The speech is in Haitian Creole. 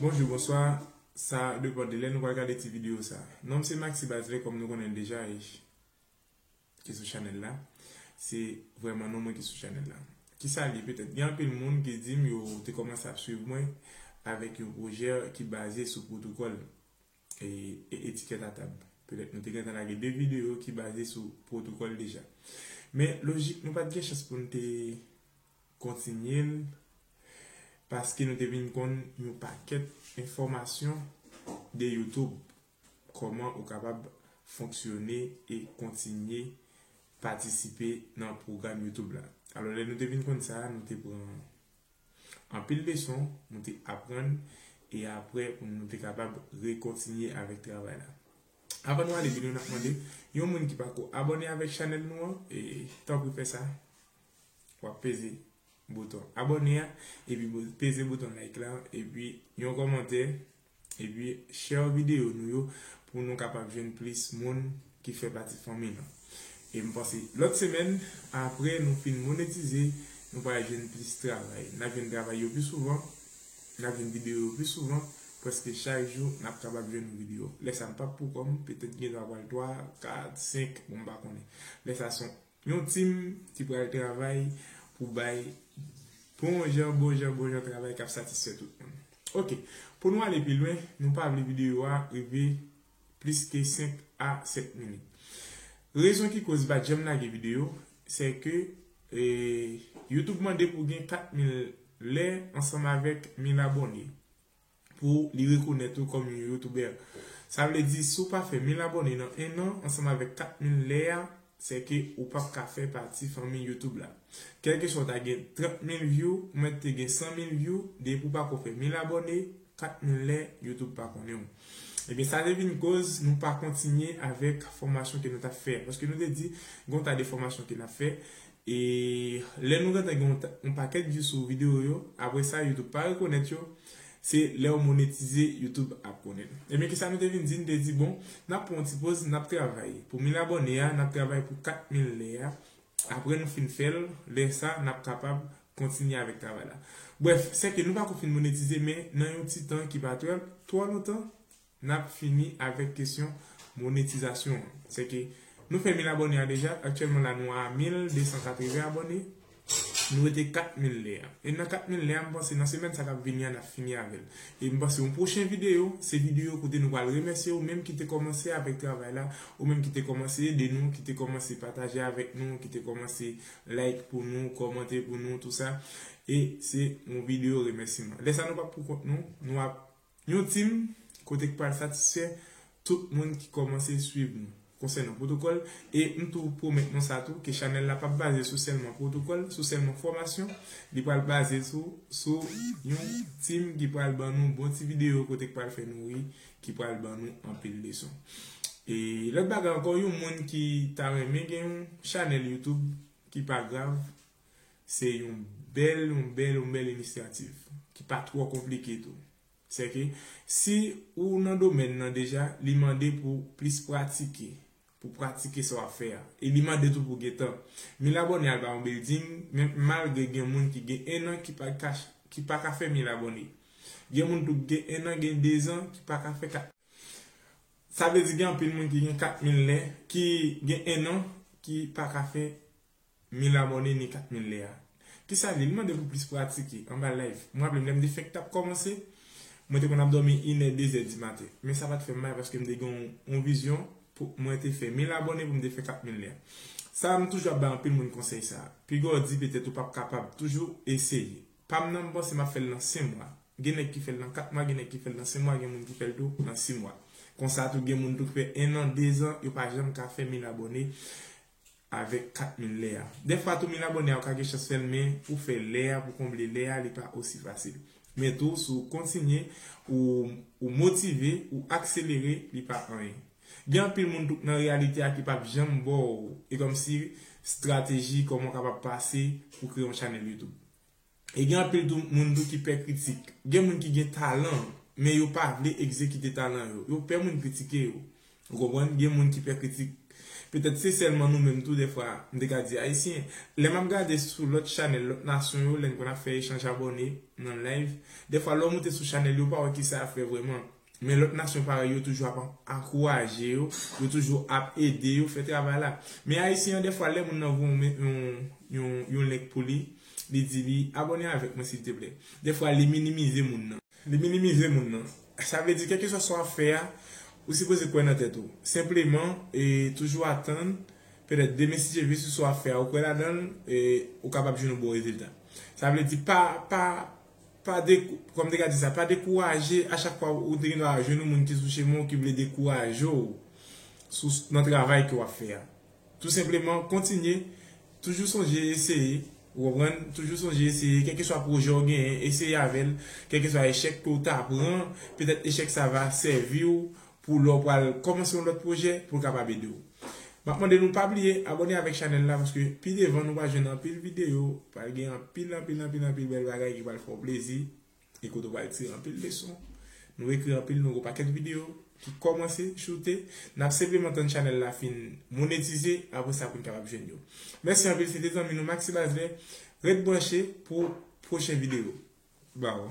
Bonjou, bonswa, sa depan de lè nou pral gade ti videyo sa. Non m se Maxi Bazelais kòm nou konnen l deja e ki sou chanèl la. Se vrèman non mwen ki sou chanèl la. Kisa l ye petèt? Gen anpil moun ki di m yo te kòmanse ap swiv mwen avèk yon pwojè ki baze sou pwotokòl. e etikèt a tab. Petèt nou te gentan lage 2 videyo ki baze sou pwotokòl deja. Men lojik nou pa t gen chans pou n te kontinye l paske nou te vin konn yon pakèt enfòmasyon de YouTube. Kòman ou kapab fonksyone e kontinye patisipe nan pwogram YouTube la. Alò lè nou te vin konn sa, nou te pran Anpil leson nou te aprann e apre nou te kapab rekontinye avèk travay la. Avan nou ale video nap mande yon moun ki pako abòne avèk chanèl nou an tanpri fè sa wap peze bouton abòne a epi peze bouton like la epi yon kòmantè. Epi share video nou yo pou nou kapab jwenn plis moun ki fè pati fanmi nou. E m panse lòt semèn apre nou fin monetize nou pral jwenn plis travay. Nap jwenn travay yo pi souvan, nap jwenn video yo pi souvan, prèske chak jou nap kapab jwenn yon video. Lè sa m pap poukò m, petèt gen dwa pral 3, 4, 5, bon m pa konnen. Lè sa son. Yon team ki pral travay pou bay bon jan bon jan bon jan travay kap satisfè tout moun. Ok pou nou ale pi lwen nou pa vle videyo a rive plis ke 5 a 7 minit. Rezon ki koz mpa janm lage videyo se ke YouTube mande pou gen 4000 lè ansanm avèk 1000 abòne. pou li rekonèt ou kòm yon youtubè. Sa vle di si w pa fè 1000 abòne nan 1 an ansanm avèk 4000 lè a sè ke ou pap ka fè pati fanmi youtube la. Kèlkeswa w ta gen 30 mil vyou ou mèt te gen 100 mil vyou depi w pako fè 1000 abòne 4000 lè youtube pa konnen w. Ebyen sa te vin koz nou pa kontinye avèk fòmasyon ke nou tap fè a paske nou te di gon ta de fòmasyon ke nap fè E lè nou gentan gen yon pakèt view sou video yo, apre sa youtube pa rekonèt yo, se lèw monetize youtube ap konnen. Ebyen kisa nou te vin di, nou te di bon nap pran yon ti poz nap travay pou 1000 abòne a, nap travay pou 4000 lè a, apre nou fin fèl, lè sa nap kapab kontinye avèk travay la. Brèf, sèke nou pako fin monetize men nan yon ti tan ki pa twò lontan, Nap fini avèk kesyon monetizasyon an. Sè ke nou fè mil abòne a deja, aktyèlman la nou a mil desan katrevèn abòne, nou rete kat mil lè a. E nan kat mil lè a m panse nan semèn sa kap vini a nap fini avèl. E m panse yon pwochen videyo, se videyo kote nou pral remèsye ou menm ki te kòmanse avèk travay la, ou menm ki te kòmanse ede nou, ki te kòmanse pataje avèk nou, ki te kòmanse like pou nou, kòmante pou nou, tou sa. E se yon videyo remèsiman. Lè sa nou pap pou kont nou, nou ap Yon team kote k pral satisfè tout moun ki kòmanse swiv nou konsènan pwotokòl e m tou pwomèt nou sa tou ke chanèl la pap baze sou sèlman pwotokòl, sou sèlman fòmasyon, li pral baze tou sou yon team ki pral ban nou bon ti videyo kote k pral fè nou ri, ki pral ban nou anpil leson. E lòt bagay ankò yon moun ki ta renmen gen yon chanèl youtube ki pa grav, Se yon bèl, yon bèl, yon bèl inisiyativ. Ki pa twò konplike tou. Sèke, si ou nan domèn nan deja, li mande pou plis pratike. Pou pratike sa w ap fè a. E li mande tou pou gen tan. Mil abòne al ba yon bilding, menm malgre gen moun ki gen ennan ki pa ka ki pa ka fè mil abòne. Gen moun tou ki gen ennan, gen dezan ki pa ka fè kat. Sa vle di gen anpil moun ki gen kat mil lè, ki gen ennan, ki pa ka fè Mila Morne ni kat mil lea. Kisa li? Li mande pou plis pratike anba live. M raple m lè m te fèk t ap kòmanse, mwen te konn ap dòmi inè, dezè di maten. Men sa pa t fè m mal paske m te gen yon vizyon pou mwen te fè mil abòne pou m te fè kat mil lea. Sa a m toujou ap bay anpil moun konsèy sa a. Piga w di petèt ou p ap kapab, toujou eseye. Pa m nan m panse m ap fè l nan sen mwa. Gen nèg ki fè l nan kat mwa, gen nèg ki fè l nan sen mwa, gen moun ki fè l tou nan si mwa. Konsa tou gen moun tou ki fè ennan, dezan, yo pa janm ka fè mil abòne. avèk kat min lè a. Dèfwa tou min abòne a ou ka gen chans fèl men pou fè lè a pou konble lè a li pa osi fasil. Men tou si ou kontinye ou motive ou akselere li pa anyen. Gen anpil moun tou k nan reyalite a ki pap janm baw e kòmsi strateji kòman ou kapab pase pou kreye yon chanèl youtube. E gen anpil tou moun tou ki pè kritik. Gen moun ki gen talan, men yo pa vle egzekite talan yo. Yo pè moun kritike yo. Ou konprann? Gen moun ki pè kritik. Petèt se sèlman nou menm tou dèfwa, m te ka di Ayisyen. Lè m ap gade sou lòt chanèl lòt nasyon yo, lè n konn ap fè echanj abòne nan live, dèfwa lè w moute sou chanèl yo ou pa wè kisa y ap fè vrèman. Men lòt nasyon parèy yo toujou ap ankouraje yo, yo toujou ap ede yo fè travay la. Men Ayisyen an dèfwa lè moun nan voye w yon yon link pou li, li di li abòne avèk mwen silteplè. Dèfwa li minimize moun nan. Li minimize moun nan. Sa vle di kèlkeswa sa w ap fè a, ou sipoze kwè nan tèt ou. Senpleman, toujou atann, petèt demen si Dye vle si sa w ap fè a ou kwè ladan l, ou kapab jwenn yon bon rezilta. Sa vle di pa pa Pa de, kòm te ka di sa, pa dekouraje a chak fwa ou te gen dwa jwenn yon moun ki sou chemen w ki vle dekouraje w sou nan travay ke w ap fè a. Tou senpleman kontinye, toujou sonje eseye, ou konprann, toujou sonje eseye, kèlkeswa pwojè w genyen, eseye avè l, kèlkeswa echèk ke w ta pran, petèt echèk sa va sèvi w pou lè w pral kòmanse yon lòt pwojè pou l kapab ede w. M ap mande nou pa bliye abòne avèk chanèl la paske pi devan nou pral jwenn anpil videyo, pral gen anpil anpil anpil anpil bèl bagay ki pral fè w plezi e kote w pral tire anpil leson. Nou ekri anpil, nou gen yon pakèt videyo ki kòmanse choute, n ap senpleman tann chanèl la fin monetize apre sa pou n kapab jwenn yo. Mèsi anpil, se te zanmi nou Maxi Basley, ret branche pou pwochen videyo. Baw.